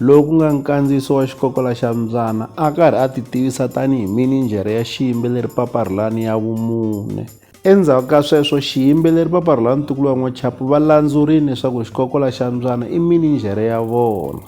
loyi ku nga nkandziyiso wa xikokola xa Mbyana a karhi a titivisa tanihi mininjhere ya xiyimbeleri Paparhulani ya vumune. Endzhaku ka sweswo xiyimbeleri Paparhulani Tukuluwa N'wachapu va landzurile leswaku xikokola xa Mbyana i mininjhere ya vona.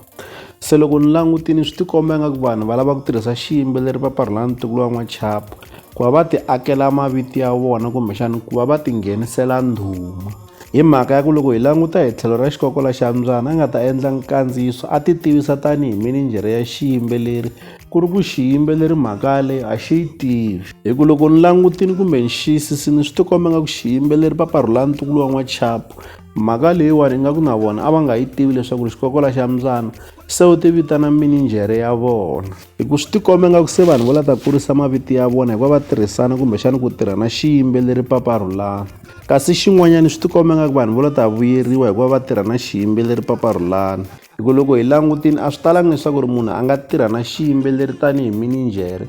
Se loko ni langutini swi tikomba ingaku vanhu va lava ku tirhisa xiyimbeleri Paparhulani Tukuluwa N'wachapu ku va va ti akela mavito ya vona kumbexani ku va va tinghenisela ndhuma. Hi mhaka ya ku loko hi languta hi tlhelo ra xikokola xa mbyana a nga ta endla nkandziyiso a titivisa tanihi mininjhere ya xiyimbeleri ku ri ku xiyimbeleri mhaka yaleyo a xi yi tivi hi ku loko ni langutini kumbe ni xiyisisini swi tikomba nga ku xiyimbeleri paparhula ntukulu wa n'wachapu mhaka leyiwani ingaku na vona a va nga yi tivi leswaku ri xikokola xa mbyana se u ti vitana mininjhere ya vona hi ku swi tikombe nga ku se vanhu vo la ta kurisa maviti ya vona hikuva va tirhisana kumbexana ku tirha na xiyimbeleri paparhulana kasi xin'wanyana swi tikombe nga ku vanhu vo la ta vuyeriwa hikuva va tirha na xiyimbeleri paparhulana hi ku loko hi langutini a swi talanga leswaku ri munhu a nga tirha na xiyimbeleri tanihi mininjhere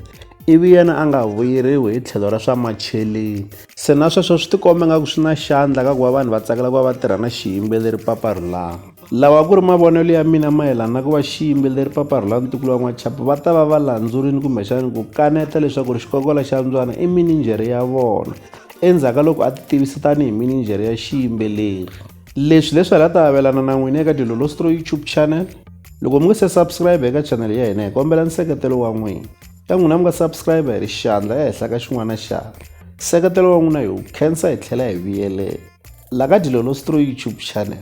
ivi yena a nga vuyeriwi hi tlhelo ra swa macheleni se na sweswo swi tikombe nga ku swi na xandla ka ku va vanhu va tsakela ku va va tirha na xiyimbeleri paparhulana Lawa a ku ri mavonelo ya mina mayelana na ku va xiyimbeleri paparhula ntukulu wa n'wachapu va ta va va landzurile kumbexana ku kaneta leswaku ri xikokola xa ndzwana i mininjhere ya vona endzhaku ka loko a ti tivisa tanihi mininjhere ya xiyimbeleri leswi leswi hala ta avelana na n'wina eka dilolostro youtube channel loko mi nga se subscribe eka chanel ya hina hi kombela nseketelo wa n'wina ka n'wina mi nga subscribe hi ri xandla ehenhla ka xin'wana xandla nseketelo wa n'wina hi wu khensa hi tlhela hi vuyelela la ka dilolostro youtube channel